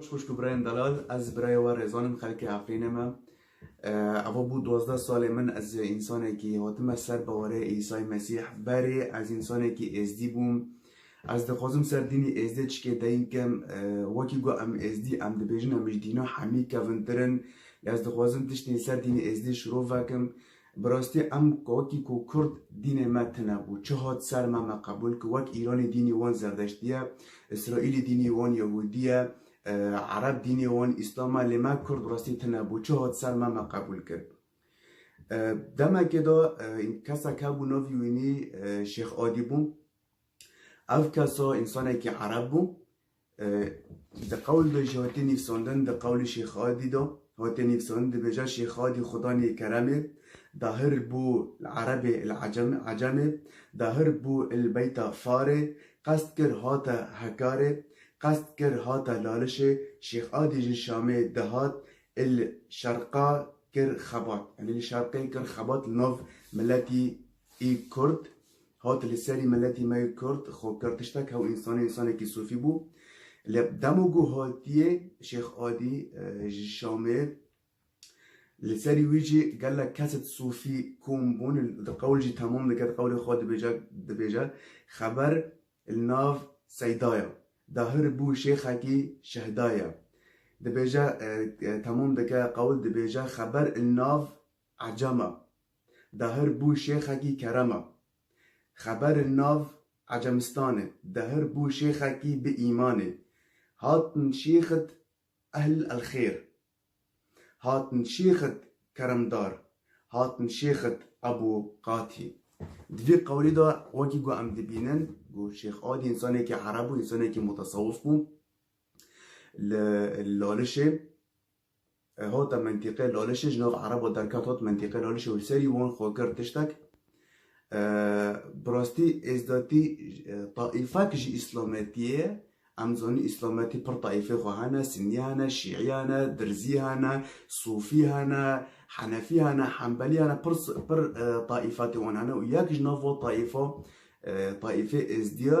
Xwişk û birayên delal, ez birayê we Rêzan im, xelkê Efrînê me. Ava bû duwazdeh salên min ez însanekî hatime ser bawerê Îsay Mesîh. Berê ez însanekî Êzdî bûm. Ez dixwazim ser dînê Êzdê çikê deying kim. Wekî ku em Êzdî em dibêjin em ji dîna hemî kevintir in. Lê ez dixwazim tiştên ser dînê Êzdê şiro vekim. Bi rastî em wekî ku kurd dînê me tune bû, çi hat ser me me qebûl kir. Wek Îranî dînî wan zerdeştî ye, Îsraîlî dînî wan yehûdî ye, ereb dînê wan îslam e lê me kurd bi rastî tune bû, çi hat ser me me qebûl kir. Demekê de kesek hebû navî wînî Şêx Adî bû. Ev kesa însanekî ereb bû, Di qewl de jî hatiye nivîsandin, di qewlê Şêx Adî de hatiye nivîsandin, dibêje Şêx Adî Xudanê kerem ê, dahir bû li erebê, li ecem, ecemê, dahir bû li beyta farê, qest kir hate Hekarê, qest kir hate Lalişê, Şêx Adî ji Şamê dihat, li Şerqa kir xebat, yanî li Şerqê kir xebat li nav miletî Kurd. Hat li serî miletî me Kurd xwe kir tiştek hew însanê însanekî sofî bû. Lê demo ku hatiye Şêx Adî ji Şamê li serî wî jî gelek kes di sofî kom bûn di qewl jî temam dike di qewlê xwe dibêje dibêje xeber li nav seyda ye dahir bû şêxekî şehda ye dibêje temam dike qewl dibêje xeber li nav Ecem e. Dahir bû şêxekî kerem e. Xeberên nav Ecemistanê, Dahir bû şêxekî bi îmanê. Hatin şêxit ehl elxêr. Hatin şêxit keremdar. Hatin şêxit Ebû Qatî. Di vî qewlî de wekî ku em dibînin ku Şêx Adî însanekî ereb bû, însanekî mutesewif bû. Li Lalişê Hota mentîqê Lalişê ji nav Ereb û derket hot mentîqê Lalişê û li serî wan xwe kir tiştek. Bi rastî êzdatî taîfek ji îslametî ye. Em dizanin îslametî pir taîfê xwe hene, sinî hene, şîî hene, dirzî hene, sofî hene, henefî hene, hembelî hene, pir pir taîfetên wan hene û yek ji nav wan taîfa taîfê êzdî ye.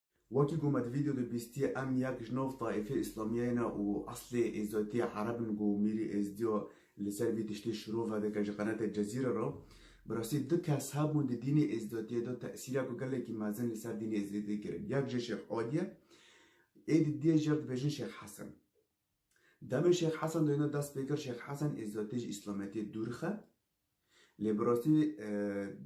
Wekî ku me di vîdeo de bîstiye em yek ji nav taîfê îslamiyeyê ne û eslê êzatiyê ereb in ku Mîrî Êzdiya li ser vî tiştî şiro vedike ji qenatê Cezîre re. Bi rastî du kes hebûn di dînê êzatiyê de tesîrek gelekî mezin li ser dînê êzatiyê kirin. Yek jê Şêx Adî ye. Ê di diyê jê re dibêjin Şêx Hesen. Demê Şêx Hesen de hêna dest pê kir Şêx Hesen êzatiyê ji îslametiyê dûr dixe. Lê bi rastî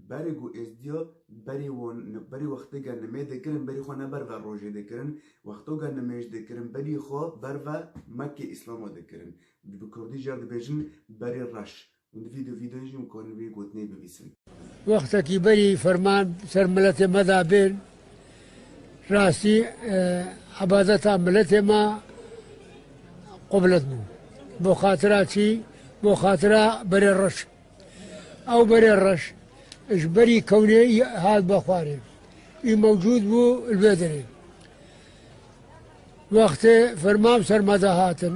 berê ku Êzdiya berê wan berê wextê ke nimê dikirin berî xwe ne berve rojê dikirin, wexto ke nimêj dikirin berî xwe berve Mekkê Îslama dikirin. Bi kurdî jî ya dibêjin berê reş. Hûn di vî du vîdeoyê jî hûn karin vî gotinê bivîsin. Wextekî berî ferman ser miletê me de bên Rastî ebadeta miletê me qublet bû. Bo xatira çî? Bo xatira berê reş. Ew berê reş ji berî kewnê hat be xwarê. Î mewcûd bû li vê derê. Wextê fermam sermada hatin.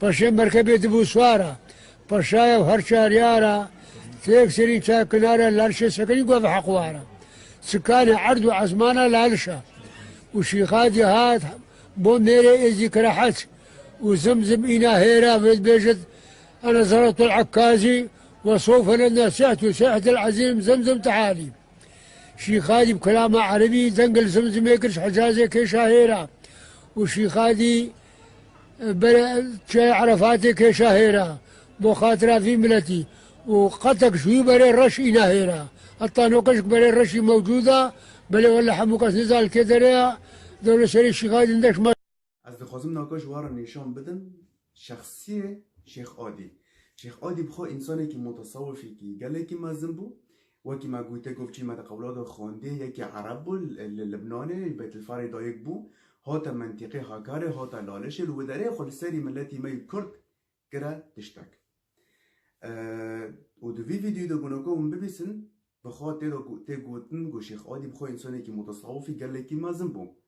Paşê merkebê di bû swar a. Paşayev her çaryar a, têk serîn çar kinara Lalişê sekinî got bi heq war a. Sikanê erd û esmana Laliş a. Û Şîxadî hat bo mêrê êzî kira heç. Û zim zim îna hêra vê dibêjit Ene Zerratul Ekkazî ve sofe lena sihtu sihetel ezîm zim zim tihalî. Şîxadî bi kilama erebî deng li zim zimê kir ji Hicazê kêşa hêra. Û Şîxadî Bere çayê Erefatê kêşa hêra bo xatira vî miletî û qetek ji wî berê reş îna hêra. Heta no qijk berê reşî mewcûd a belê wele hemû kes nizan li kê derê ya dewleserî şîxay din deş ma. Ez dixwazim naka ji wan re nîşan bidim şexsiyê Şêx Adî. Şêx Adî bi xwe însanekî mutasewifîkî gelekî mezin bû. Wekî me gote gov çî me di qewla de xwendê, yekî ereb bû li Libnanê, li Betilfarê dayik bû, hate mentîqê Hakarê, hate Lalişê li widerê xwe li serî miletî me yî kurd kire tiştek. Û di vî vîdyoyî de gona ku hûn bibîsin, bi xwe tê de tê gotin ku Şêx Adî bi xwe însanekî mutesawifî gelekî mezin bû.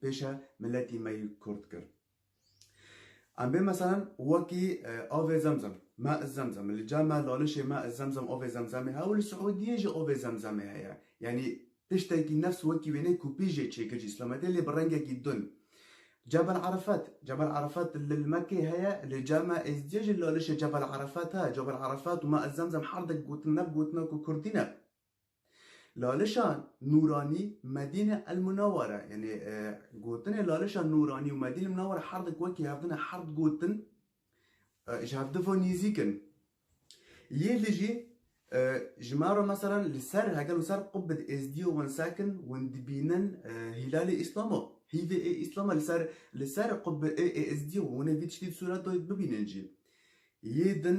pêşe miletî me yî kurd kir. Em bê meselen wekî avê zemzem, ma i zemzem, li ca me lalişê ma i zemzem avê zemzemê heye û li Siûdiyê jî avê zemzemê heye. Yanî tiştekî nefs wekî wêneyê ku pî jê çêkir ji îslametê lê bi rengekî dun. Cebel Arefet, Cebel Arefet li li Mekkeyê heye, li ca me Êzidiyê jî lalişê Cebel Arefet he. Cebel Arefet û ma i zemzem herdek gotin, nef gotina ku kurdî ne. Lalişa Nûranî Medîne El Munewwere yanî gotinê Lalişa Nûranî û Medîne Munewwere herdik wekî hev din e, her di gotin ji hev di ve nêzîk in. Yê li jî ji me re mesela li ser hegel û ser qubbe di êzdîyê wan sekin wan dibînin hîlalê Îslama, hîvê ê Îslama li ser li ser qubbe ê êzdîyê wan ê vî tiştî di sûreto bibînin jî. Yê din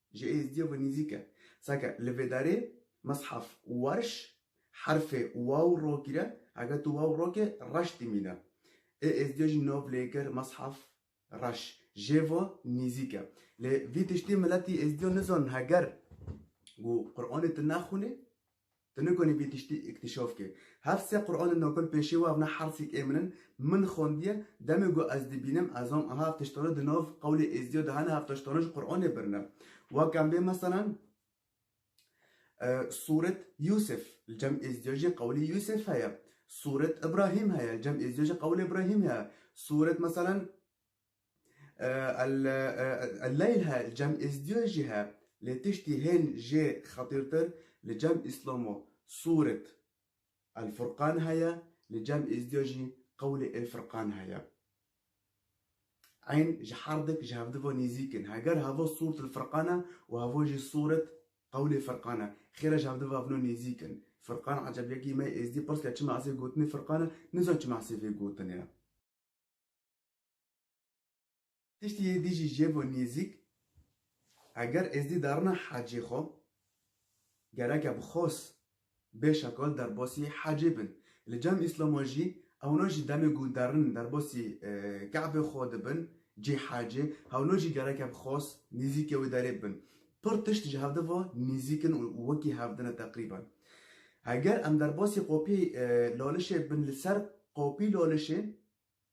Ji êzdiyê ve nîzîk e. Seke li vê derê meshaf werş herfê waw ro gîre, heke tu waw rokê reş dimîne. Ê êzdiyê jî nav lêkir meshaf reş. Jê ve nîzîk e. Lê vî tiştî miletî êzdiyo nizanin heger ku Quranê tu nexwinê, Tu nikonî vî tiştî îktîşaf kê. Hev sê Quranên Nokal pêşê we ev ne hersîk ê min in. Min xwendiye, demê ku ez dibînim ez zam aha ev tiştane di nav qewlê Êzidiya de hene, hev tiştane ji Quranê bir ne. Wek em bê meselan Sûret Yûsif li cem Êzidiya jî qewlê Yûsif heye. Sûret Îbrahîm heye li cem Êzidiya jî qewlê Îbrahîm heye. Sûret meselan. Elleyl he li Cem Êzdiyo jî he lê tiştî hên jê xetîrtir li Cem Îslomo sûret El Furqan heye li Cem Êzdiyo jî qewlê El Furqan heye. Eyn ji her dik ji hev di ve nêzîk in. Heger hevo sûrt El Furqan e û hevo jî sûret qewlê Furqan e. Xêr e ji hev di ve ev no nêzîk in. Furqan eceb yekî me Êzdî pirs kir çima ez ê gotinê Furqan e, nizan çima ez ê vê gotinê. Tiştî yê dî jî jê bo nêzîk, eger êzdî darina hecê xwe, gereke bi xos bê şekol derbasî hecê bin. Li cem Îslamo jî ewna jî demê ku derin derbasî Kabê xwe dibin cê hecê, hewna jî gereke bi xos nêzîkê wê derê bibin. Pir tişt ji hevde ve nêzîk in û wekî hev din e teqrîben. Eger em derbasî qopî lalişê bin li ser qopî lalişê,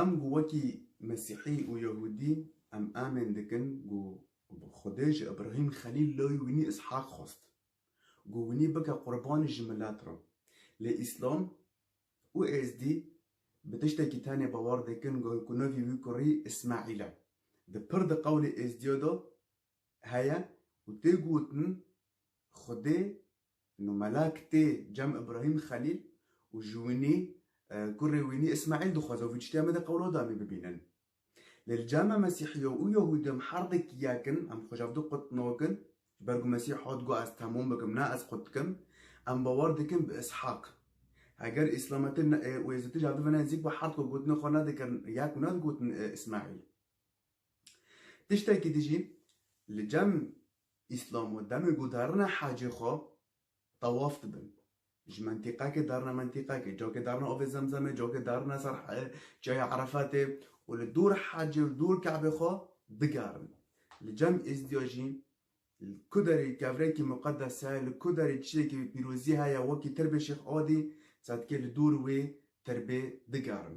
Em ku wekî Mesîhî û Yehûdî em amên dikin ku Xwedê ji Îbrahîm Xelîl lawê wînî Îshak xwest ku wînî bike qurbanî ji milet re. Lê Îslam û Êzdî bi tiştekî tenê bawer dikin ku navê wî kurî Îsmaîl e. Di pir di qewlê Êzdîya de heye û tê gotin Xwedê no mela kitê Cem Ibrahîm Xelîl û ji winî kurê wînî Îsmaîl dixwaze vî tiştî Amedê Qewlodanî bibînin. Lê li cem em Mesîhîyo û Yehûdî em herdekî yek in, em xwe ji hevdu qutnok in. Ji ber ku Mesîh hat got ez temûm bikim ne ez qut dikim. Em bawer dikin bi Îshak. Heger Îslametê û Êzidî ji hevdu ve ne nizîk be herdko gotinê xwe ne dikirin yek û ne digotin Îsmaîl. Tiştekî di jî li cem Îslamo demê ku darine hacê xwe tewaf dibin. Ji mentîqekê darine mentîqekê, cakê darine avê zemzemê, cakê darine ser çaya Erefetê û li dûr hacê û dûr Kabê xwe digerin. Li cem Êzdiya jî li ku derê kevrekî muqedes heye, li ku derê çiyekî pîrozî heye wekî Tirbê Şêx Adî sedkê li dûr wê tirbê digerin.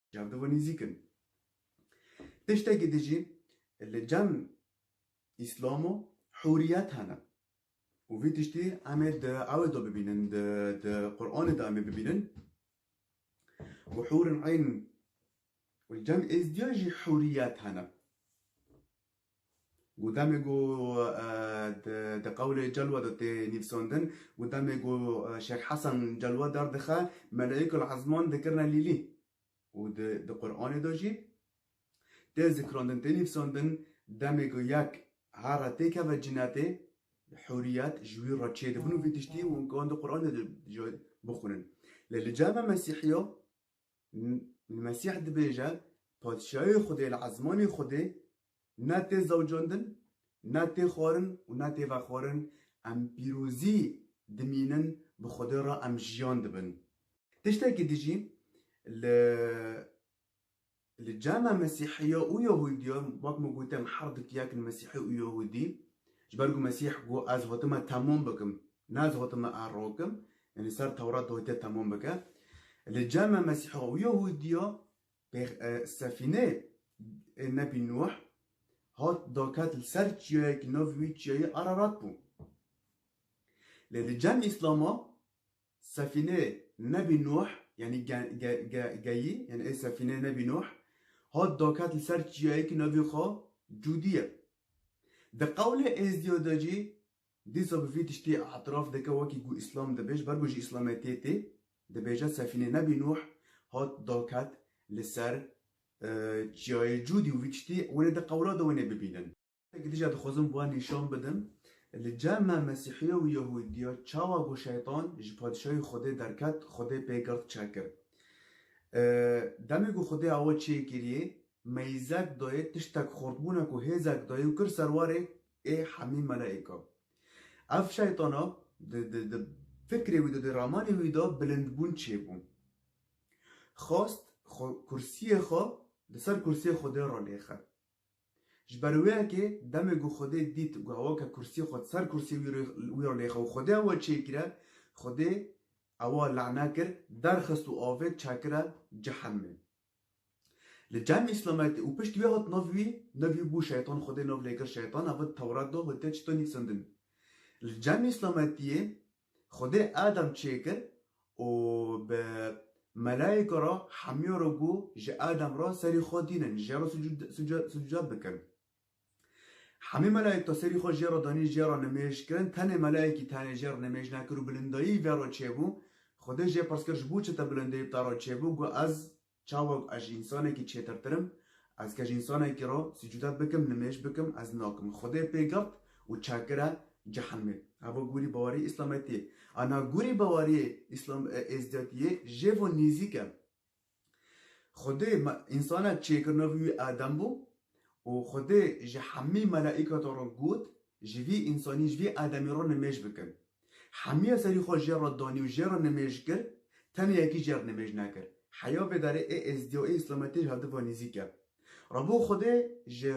Çav di vî nîzîk in. Tiştekî di jî li cem îslam û hûriyet hene û vî tiştî em ê di ewê de bibînin, di Quranê de em ê bibînin û hûrin eyn û li cem êzdiyan jî hûriyet hene. Ku demê ku di qewlê Celwa de tê nivsandin, ku demê ku Şêx Hesen Celwa derdixe, Melaîkul Ezman dikirine lîlî û di Quranê de jî tê zikrandin, tê nivsandin, demê ku yek here tê keve cinetê, huriyet ji wî re çêdibin û vê tiştî wan di Quranê de jî bixwînin. Lê li cem a Mesîhî ya Li Mesîh dibêje, Padîşahiyê Xwedê li ezmanê Xwedê ne tê zewcandin, ne tê xwarin û ne tê vexwarin, em pîrozî dimînin, bi Xwedê re em jiyan dibin. Tiştekî dijî li Li cema Mesîhiya û Yehudiya, wek min got em her du tiyakin Mesîhî û Yehudî. Ji ber ku Mesîh got ez hatime temam bikim, ne ez hatime er rakim, yanî ser Tewrat de hatiye temam bike. Li cema Mesîhiya û Yehudiya pêx sefîne ê Nebî Nuh hat daket li ser çiyayekî navê wî çiyayê Ararat bû. Lê li cem Îslama Sefîne Nebî Nuh yanî geyî yanî ê sefîne Nebî Nuh hat daket li ser çiyayekî navê xwe Cûdî ye. Di qewlê êzdîya de jî dîsa bi vî tiştî îtiraf dike wekî ku îslam dibêj ber ku ji îslametiyê tê dibêje sefîne Nebî Nuh hat daket li ser çiyayê Cûdî û vî tiştî hûn ê di qewla de hûn ê bibînin. Eke tije dixwazim wan nîşan bidim, li cem me Mesîhiya û Yehûdiya çawa ku Şeytan ji Padîşahî Xwedê derket, Xwedê pê girt çekir. Demê ku Xwedê awe çê kiriye, meyzek daye, tiştek xort bûne ku hêzek daye û kir ser warê ê hemî melaîkan. Ev Şeytana di fikrê wî de, di ramanê wî de bilindbûn çê bû. Xwest kursiyê xwe li ser kursiyê Xwedê re lêxin. Ji ber wê yekê demê ku Xwedê dît ku hewa ke kursîyê xwe di ser kursîyê wî re wî re lêxa û Xwedê hewa çê kire, Xwedê ewa lane kir, derxist û avêt çekire cehemê. Li cem îslametê û pişt wê hat nav wî, nav wî bû şeytan, Xwedê nav lê kir şeytan, ev di Tewrat de hatiye çîtandî xizindin. Li cem îslametiyê Xwedê Adam çêkir û bi melayîka re hemîya re got, Ji Adam re serî xwe dînin, jê re sucûdat bikin. Hemî melayîka serî xwe jê re danîn, jê re nimêj kirin, tenê melayîkî tenê jê re nimêj nekir û bilindayî vê re çêbû. Xwedê jê pirs kir, Ji bo çi te bilindayî te re çêbû? Got, Ez Çawa ku ez ji însanekî çêtirtir im, ez ke ji însanekî re sucudet bikim, nimêj bikim, ez nakim. Xwedê pê girt û çekir e cehenmê. Heva gûrî bawerî îslametî ye. A niha gûrî bawerîyê îslam êzdiyatî yê jê ve nêzîk e. Xwedê însanek çêkir navê wî Adem bû û Xwedê ji hemî melaîkatan re got ji vî însanî ji vî Ademî re nimêj bikin. Hemîya serî xwe jê re danî û jê re nimêj kir, tenê yekî jê re nimêj nekir. Heya vê derê ê êzidî û ê îslametî ji hev di ve nîzîk e. Rebo Xwedê ji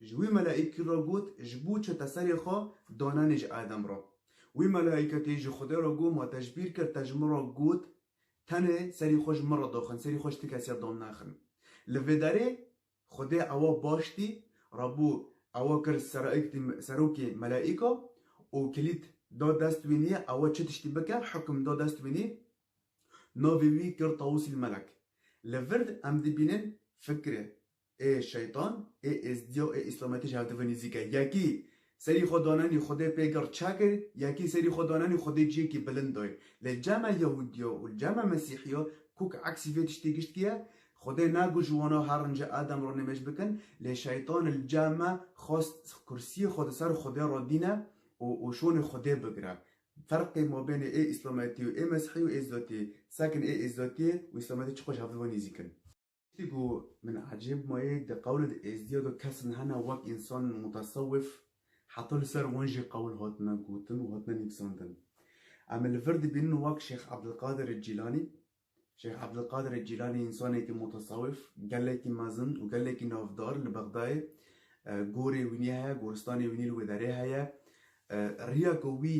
ji wî melaîkî re got, Ji bo çi te serê xwe danenî ji Adem re? Wî melaîketî ji Xwedê re got, Ma te ji bîr kir te ji min re got, Tenê serî xwe ji min re daxin, serî xwe ji ti kesî re dan nexin. Li vê derê Xwedê ewa baştî ra bû, ewa kir serokê melaîka û kilît da dest wî nî ewa çi tiştî bike, hukm da dest wî nî, navê wî kir Tawusîl Melek. Li vir em dibînin fikirê ê şeytan, ê êzdîya ê îslametî ji hev di vir nîzîk e. Yekî Serî xwe danenî Xwedê pê gird çakir, yekî serî xwe danenî Xwedê ciyekî bilind dayê. Lê ca me Yehûdiyo û ca me Mesîhiyo kûk eksî vê tiştê giştî ye. Xwedê nago ji wana her rince erdem re nêmej bikin, lê şeytan li ca me xwest kursiyê xwe di ser Xwedê re dîne û û şonê Xwedê bigire. Ferqê mabênê ê îslametî û ê Mesîhî û ê Zatî, sekin ê ê Zatîyê û îslametî çi qo ji hev di ve nîzîk in. Tiştî ku min ecêb maye di qewlê di Êzdiya de kesin hene wek însan mutesewif heta li ser wan jî qewl hatine gotin û hatine nivîsandin. Em ê li vir dibînin wek Şêx Ebdilqadirê Cîlanî. Şêx Ebdilqadirê Cîlanî însanekî mutesewif, gelekî mezin û gelekî navdar li Bexdayê. Gorê wînî heye, goristanê wînî li wê derê heye. Riya ku wî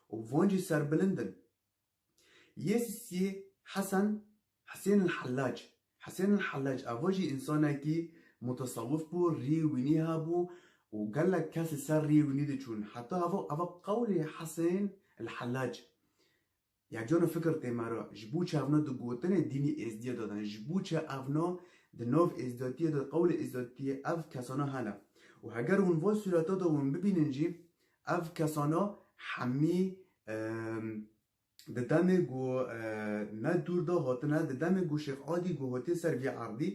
Û van jî serbilind in. Yê sisiyê Hesen, Hesên el Hellac. Hesên el Hellac eva jî însanekî mutesewif bû, rî wînî hebû û gelek kes li ser rî wînî diçûn. Heta eva eva qewlê Hesên el Hellac ya cano fikir tê me re. Ji bo çi evna di gotinê dînî êzdiyê de din? Ji bo çi evna di nav êzdiyatiyê de qewlê êzdiyatiyê ev kesana hene? Û heger hûn van sûreta de hûn bibînin jî Ev kesana hemî di demê ku ne dûr de hatine, di demê ku Şêx Adî ku hatiye ser vî erdî,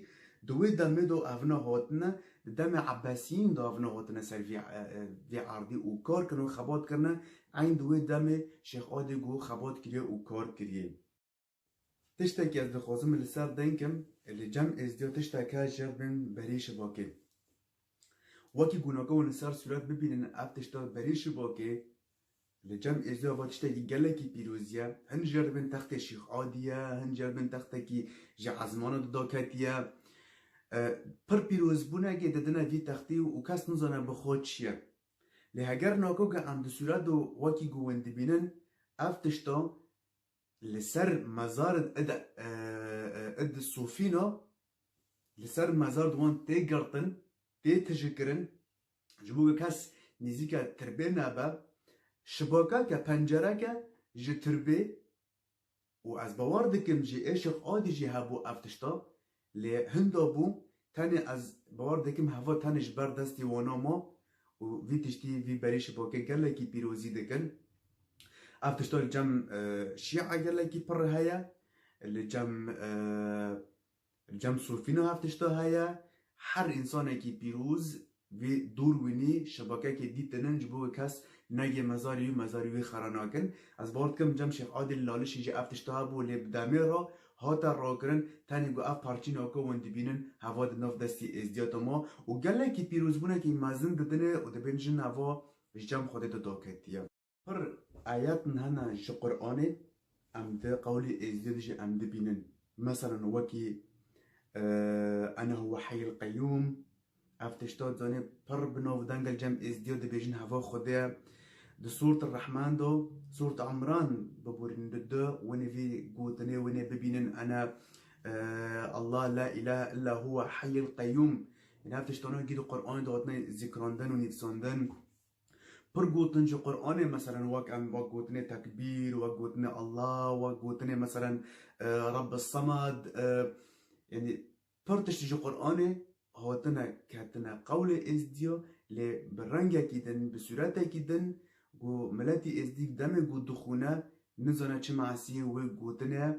di wê demê de evne hatine, di demê Ebesiyîn de evne hatine ser vî vî erdî û kar kirine û xebat kirine, eyn di wê demê Şêx Adî ku xebat kiriye û kar kiriye. Tiştekî ez dixwazim li ser denkim ê li cem êzdiyo tişteke jêr bên berî şivakê. Wekî ku nokewên li ser sûret bibînin ev tişta berî şivakê li cem êzdiyo eva tiştekî gelekî pîroz ye. Hin jêr bên textê Şîx Adî ye, hin jêr bên textekî ji ezmana dida ketiye. Pir pîrozbûnekê didine vî textî û kes nizane bi xwe çi ye. Lê heger nokew ke em di sûret de wekî ku hûn dibînin ev tişta Li ser mezarên id id di Sofîna li ser mezar di wan tê girtin, tê tijikirin ji bo ku kes nêzîka tirbê nebe. Şibakeke, pencereke ji tirbê û ez bawer dikim jî êşex adî jî hebû ev tişta. Lê hinda bû tenê ez bawer dikim heva tenê ji ber destê wana ma û vî tiştî vî berî ji bo ke gelekî pîrozî dikin. Ev tişta li cem şîa gelekî pirr heye, li cem li cem sofîna ev tişta heye. Her însanekî pîroz Vî dûr wînî şebakekê dîtinin ji bo wê kes neyê mezarî û mezarî wî xera nakin. Ez bawer dikim cem Şêx Adîl Lalişî jî ev tişta hebû lê bi demê re hate rakirin tenê ku ev parçîna ku hûn dibînin heva di nav destî êzdîya de ma û gelekî pîrozbûnekî mezin didine û dibên jin heva ji cem Xwedê de daketiye. Pir ayetên hene ji Quranê em di qewlê Êzidê de jî em dibînin. Meselan wekî Ene huwe heyil qeyûm ev tişta di zanê pir bi navdengel cem Êzidîya dibêjin heva Xwedê ye. Di Sûreti Rehman de, Sûreti Imran biborînin di de winê vî gotinê winê bibînin Ene Allah la îlahe illa huwe heyil qeyûm. Yanî ev tiştane wekî di Quranê de hatine zîkrandin û nivîsandin. Pir gotin ji Quranê meselen wek em wek gotinê tekbîr, wek gotinê Allah, wek gotinê meselen Rabbis Semad yanî pir tiştî ji Quranê hatine ketine qewlê Êzdiya lê bi rengekî din bi sûretekî din ku miletî Êzdî demê ku dixwîne nizane çi me'siyê wê gotinê ye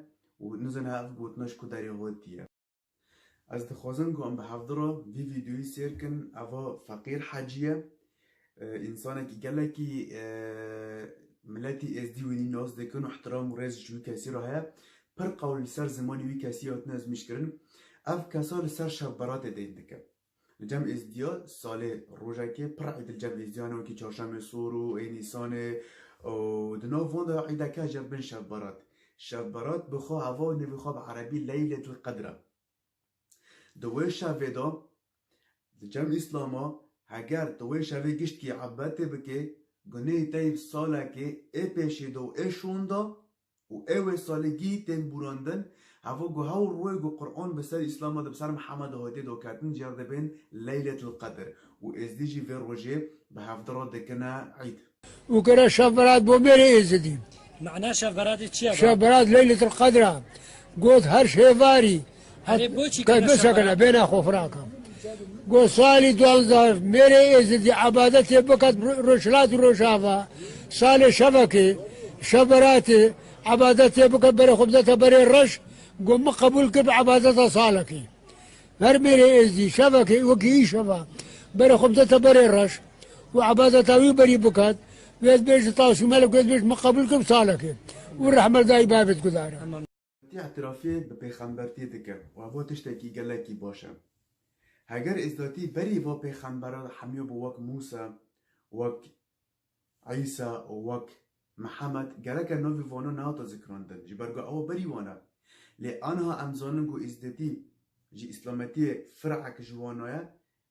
û nizane ev gotina ji ku derê hatiye. Ez dixwazim ku em bi hevdi re vî vîdeoyî sêr kin. Eva feqîr hecî ye. Însanekî gelekî miletî êzdî wî nas dikin û îhtiram û rêz ji wî kesî re heye. Pir qewl li ser zimanê wî kesî hatine ezmîşkirin. Ev kesa li ser şevberatê deyn dike. Cem Êzidîya salê rojekê pir Îdil Cem Êzidîya ne wekî Çarşemê Sor û ê Nîsanê û di nav wan de îdeke ji bin Şeb Berat. Şeb Berat bi xwe ava û nevê xwe bi erebî Leyletul Qedr e. Di wê şevê de di Cem Îslama heger tu wê şevê giştî ebetê bikê gunehê te yê bi salekê ê pêşê de û ê şon de û ew ê saligî tên bûrandin, hevo ku hewl rûê ku Quran bi ser Îslama de bi ser Mihemeda hatê dakertin cî ya dê bên Leyletil Qedr û Êzidî jî vê rojê bi hevdira dikine îd. Û kira Şev Berat bo mêrê Êzidî. Mana Şev Beratê çi ye? Şev Berat Leyletil Qedr a got her şêvarî Kar bêşa kana bêna xo firaka. Go salî duanza mêrê êzidî ebadetê bikat rojhilat û rojava. Salê şevekê, şeberatê ebadetê bikat berê xo bideta berê reş go min qebûl kir bi ebadeta salekê. Her mêrê êzidî şevekê wekî îşeva berê xo bideta berê reş û ebadeta wî berî bikat wê ez bêj taşûmelek wê ez bêj min qebûl kir bi salekê û rehmet dayî bavê diguzare. Ti îtirafê bi pêxembertî dike û heva tiştekî gelekî baş e. Heger Îzdatî berî va pêxemberan li hemû bi wek Mûsa, wek Îsa û wek Mihemed gereke navê vanan nehate zikrandin ji ber ku ew berî wan e. Lê aniha em zanin ku Îzdatî ji Îslametiyê firek ji wan naye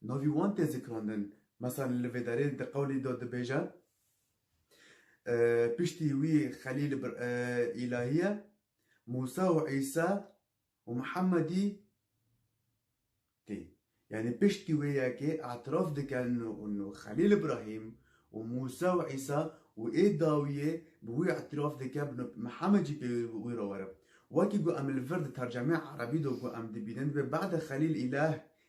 Navî wan tê zikrandin. Meseln li vê derê di qewlî de dibêje, Piştî wî Xelîl bir îlahî ye, Mûsa û Îsa û Mihemedî tê. Yanî piştî wê yekê îtiraf dike nû Xelîl Îbrahîm û Mûsa û Îsa û ê dawiyê bi wî îtiraf dike bi nû Mihemed jî pê wî re were. Wekî ku em li vir di tercemeyê erebî de ku em dibînin divê bade Xelîl îlah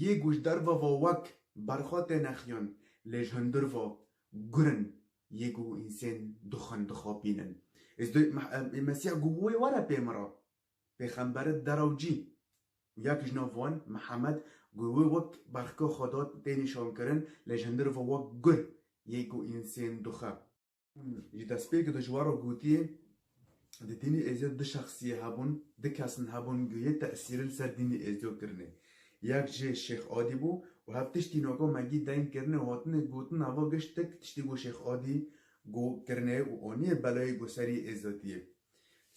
Yê guhdarva va wek berxwe têne xiyan lê ji hundir va gurin yê guh însên dixwin dixapînin. Ez dê Î Mesîh guh wê were pê min re. Pêxemberet deraw cî û yek ji nav wan Mihemed guh wê wek berxke xwe da tê nîşankirin lê ji hundir va wek gur yê guh însên dixe. Ji destpêkê de ji we re gotiye, Di dînê Êzidê du şexsiyê hebûn, du kesin hebûn ku yê tesîrê li ser dînê Êzido kirine. Yek jê Şêx Adî bû û hev tiştî naka Megî deng kirine û hatine gotin heva giştik tiştî ku Şêx Adî ku kirine û aniye belayê ku serî Êzidiyê,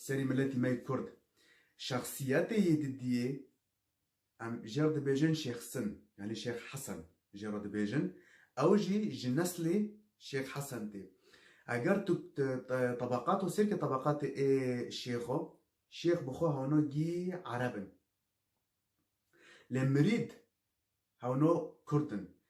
serî miletî me yê Kurd. Şexsiyetê yê Didiyê Em jê re dibêjin Şêx Sin yanî Şêx Hesen jê re dibêjin. Ew jî ji neslê Şêx Hesen tê. Eger tu tebeqat û sêrkê tebeqatê ê şêxo, şêx bi xwe hewno gî ereb in. Lê mirîd hewno kurd in.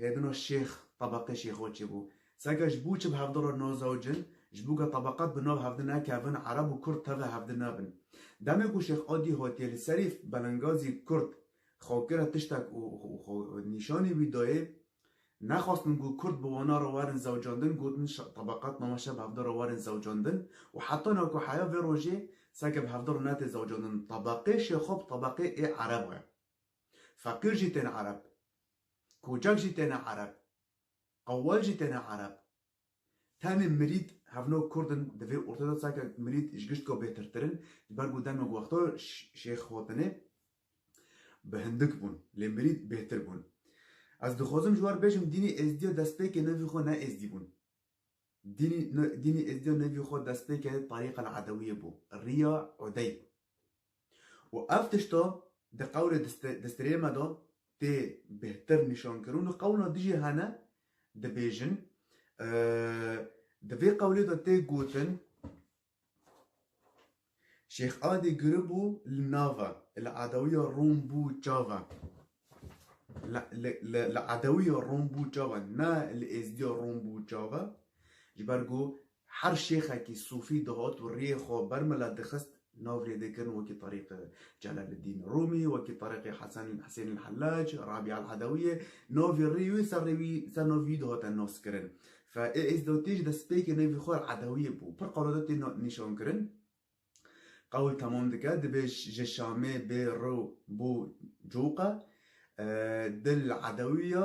Hêdino şêx tebeqê şêxo çi bû. Seke ji bo çi bi hevdi re nazewicin, ji bo ke tebeqet bi nav hevdi nekevin, ereb û kurd tevê hevdi nebin. Demê ku şêx Adî hatiye li serî belengazî kurd xwe kire tiştek û xwe nîşanî wî dayê, nexwestin ku kurd bi wana re werin zewicandin, gotin tebeqet name şe bi hevdi re werin zewicandin û heta na ku heya vê rojê seke bi hevdi re netê zewicandin. Tebeqê şêxo bi tebeqê ê ereba ye. Feqîr jî têne ereb. Kocek jî têne ereb. Qewwel jî têne ereb. Tenê mirîd hevno kurd in di vê ortaya de sanke mirîd ji gişt ku bêtirtir in ji ber ku demê ku wexta Şêx Xotinê bi hindik bûn lê mirîd bêtir bûn. Ez dixwazim ji wan bêjim dînê êzidiya destpêkê nevê xwe ne êzidî bûn. Dînê dînê êzidiya nevê xwe destpêkê Tarîqel Edewiyê bû. Rîya Udey Û ev tişta di qewlê destirê me de tê bêhtir nîşankirin û qewla dijî hene dibêjin. Di vê qewlê de tê gotin Şêx Adî giribû li nav e, li edewiya Rom bû çav e. Li edewiya Rom bû çav e, ne li êzdiya Rom bû çav e. Ji ber ku Her şêxekî sûfî dihot û riyê xwe ber mila dixist, nav lêdikirin wekî Tariqê Celaleddîn Rûmî, wekî Tariqê Hesen Husên El Hellec, Rabî El Edewiyê, navê rî wî ser rê wî ser navê wî dihate naskirin. Fe ê êzdotî ji destpêkê navê xwe El Edewiyê bû. Pir qewlada tê nîşankirin. Qewl temam dike, dibê ji Şamê bê rew bo Coka. Dil Edewiya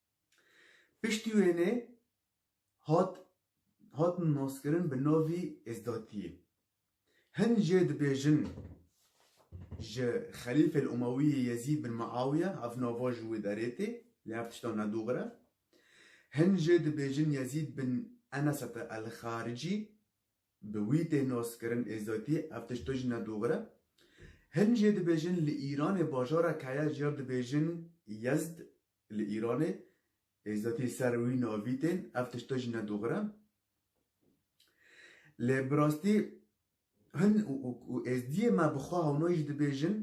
Piştî wênê hat hatin naskirin bi navî Êzdatiyê. Hin jê dibêjin ji Xelîfe li Umewiyê Yezîd bin Miawiye ev nava ji wê derê tê lê ev tişta nedûxir e. Hin jê dibêjin Yezîd bin Enesete El Xaricî bi wî tê naskirin Êzdatiyê ev tişta jî nedûxir e. Hin jê dibêjin li Îranê bajarek heye ji ya dibêjin Yezd li Îranê ê zetî ser wî navî tên, ev tişte jî ne doxir e. Lê bi rastî hin û êzdiyê me bi xwe hewna jî dibêjin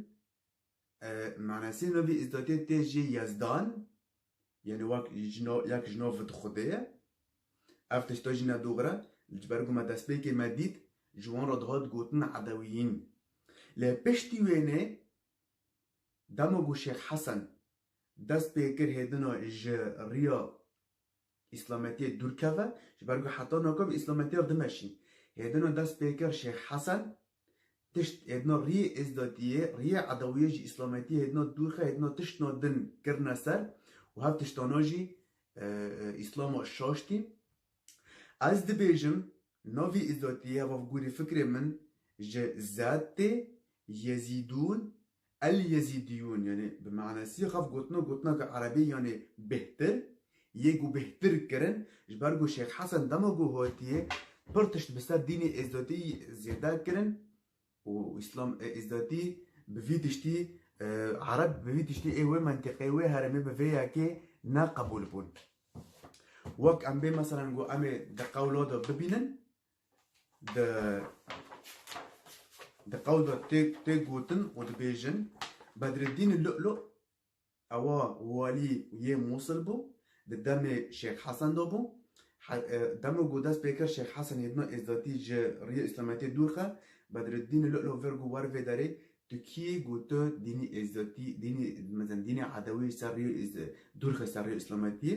Menesê navî êzdiyê tê jê Yezdan, yanî wek yek ji nav di xwedê ye. Ev tişte jî ne doxir e. Ji ber ku me destpêkê me dît ji wan re dihat gotin Edewiyîn. Lê piştî wênê Dema ku Şêx Hesen dest pê kir hêdina ji riya îslametiyê dûr keve, ji ber ku heta nakof îslametiya dimeşîn. Hêdina dest pê kir Şêx Hesen tişt hêdina riyê êzdatiyê, riyê edewiyê ji îslametiyê hêdina dûr xe, hêdina tiştna din kirine ser û hev tiştana jî îslama şaştî. Ez dibêjim Navê Îzatî ya bavgûrê fikrê min ji Zad tê, Yezîdûn, El-Yezîdîyûn yanî bi manasî xev gotina gotineke erebî yanî bêhtir yê ku bêhtir kirin ji ber ku Şêx Hesen dema ku hatiye pir tişt bi ser dînê Îzatî zêde kirin, Û Îslam ê Îzzetî bi vî tiştî, Ereb bi vî tiştî ê wê mentiqê, wê herêmê bi vê yekê ne qebûl bûn. Wek em bê meselen ku em ê di qewla de bibînin, di di qewl de tê tê gotin û dibêjin, Bedreddînî Lu'lu' Ewa walî yê Mûsil bû, di demê Şêx Hesen de bû. Dema ku dest pê kir Şêx Hesen hêdina Êzdatî ji rêya Îslametiyê dûr xist, Bedreddînê Lu'lu vir ku wer vê derê tu kî yî ku tu dînê Êzdatî, dînê mezin dînê Edewî ji ser rêya dûr xist ser rêya Îslametiyê.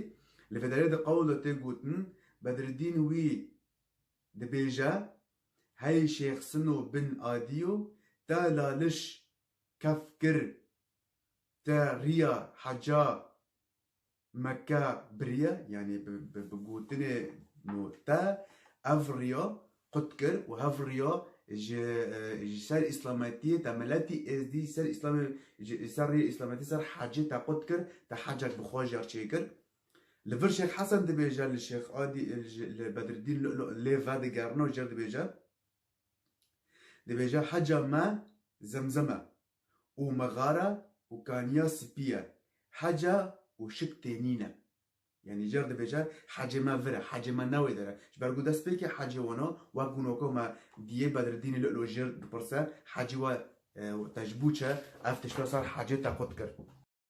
Li vê derê de qewla tê gotin, Bedreddîn wî dibêje, Hey Şêx Sino bin Adî yo, te laliş kef kir te riya heca Mekke biriye yanî bi bi gotinê no te ev riya qut kir û ev riya ji ji ser îslametiyê te miletî êzdî ser îslamê ji ser riyê îslametî ser hecê te qut kir te hecek bi xwe jîya çê kir. Li vir Şêx Hesen dibêje li Şêx Adî li Bedridîn Lu'lu' lê vedigerina jêr dibêje. Dibêje heca me Zemzem e û mexare û kaniya spî ye, heca û şik tê nîn e. Yanî cer dibêje hecê me vir e, hecê me ne wê der e. Ji ber ku destpêkê hecê wan e, wek ku noko me dîyê Bedreddînê li Ilojêr dipirse, hecê we te ji bo çi? Ev tişta sar hecê te qut kir.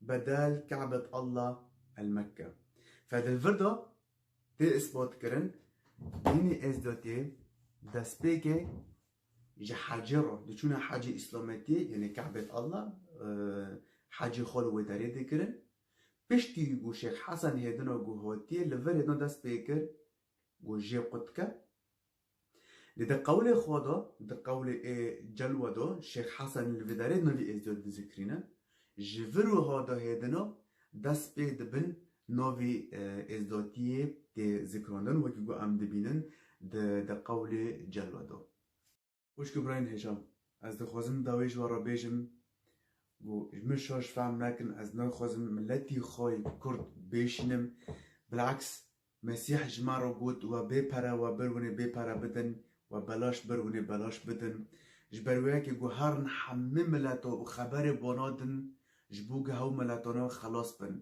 Bedel Ka'bet Allah El Mekke. Fe di vir de tê îsbatkirin dînê Êzdotiyê destpêkê ji hecê re diçûne hecê îslametiyê yanê Ka'bet Allah hecê xwe li wê derê dikirin. Piştî ku Şêx Hesen hêdina ku hatiye li vir hêdina destpêkir ku jê qutke Lê di qewlê xwe de, di qewlê ê celwe de Şêx Hesen li vê derê di navî Êzidê de dizikrîne, ji vir wiha de hêdina dest pê dibin navê Êzidatiyê tê zikrandin wekî ku em dibînin di di qewlê celwe de. Xwişk û birayên hêjan, ez dixwazim di dawiyê ji we re bêjim ku ji min şaş fehm nekin, ez naxwazim miletî xwe yê kurd bêşînim, bil'aks Mesîh ji me re got we bê pere we bir hûnê bê pere bidin, we belaş bir hûnê belaş bidin. Ji ber wê yekê ku herin hemû mileta û xeberê bona din Ji bo ku hew miletanan xelas bin.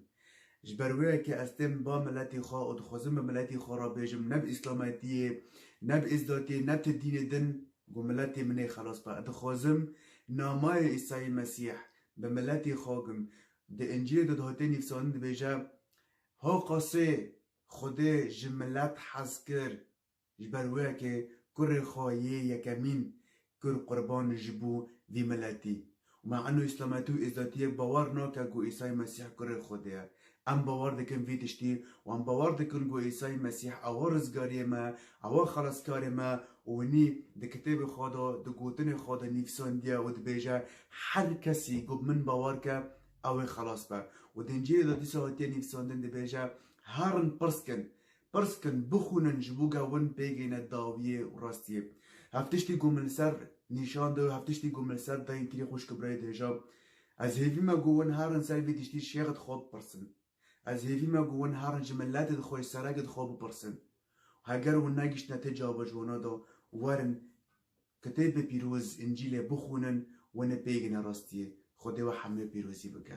Ji ber wê ye ku ez tên ba miletê xwe û dixwezim bi miletê xwe re bêjim ne bi îslametiyê, ne bi êzdakê, ne ti dînê din ku miletê min ê xelas be. Ez dixwezim namayê Îsayî Mesîh bi miletê xwe bim. Di Încîlê de dihate nivîsandin dibêje, Ho qasê, Xwedê ji milet hez kir Ji ber wê ke kurê xwe yê yekemîn kir qurban ji bo vî miletî û me eno îslametî û êzatiyek bawer nake ku Îsayî Mesîh kurê Xwedê ye. Em bawer dikin vî tiştî û em bawer dikin ku Îsayî Mesîh ew rizgariyê me, ew e xelaskarê me û winî di kitêbê xwe de, di gotinê xwe de nivîsandiye û dibêje, Her kesî ku bi min bawer ke ew ê xelas be. Û di Încîlê de dîsa hatiye nivîsandin dibêje, Herin pirs kin, Pirs kin, bixwînin ji bo ge win bêgêne dawiyê û rastiyê. Hev tiştî ku min li ser nîşan da û hev tiştî ku min li ser dayên kirî xwişk û birayê dihêja. Ez hêvî me ku win herin ser vî tiştî şêx di xwe bipirsin. Ez hêvî me ku win herin ji miletê di xwe ji serekê di xwe bipirsin. Û heger win negiştine te cava ji wana da û werin kitêbê pîroz, Încîlê, bixwînin, win ê bêgêne rastiyê. Xwedê we hemûê pîrozî bike.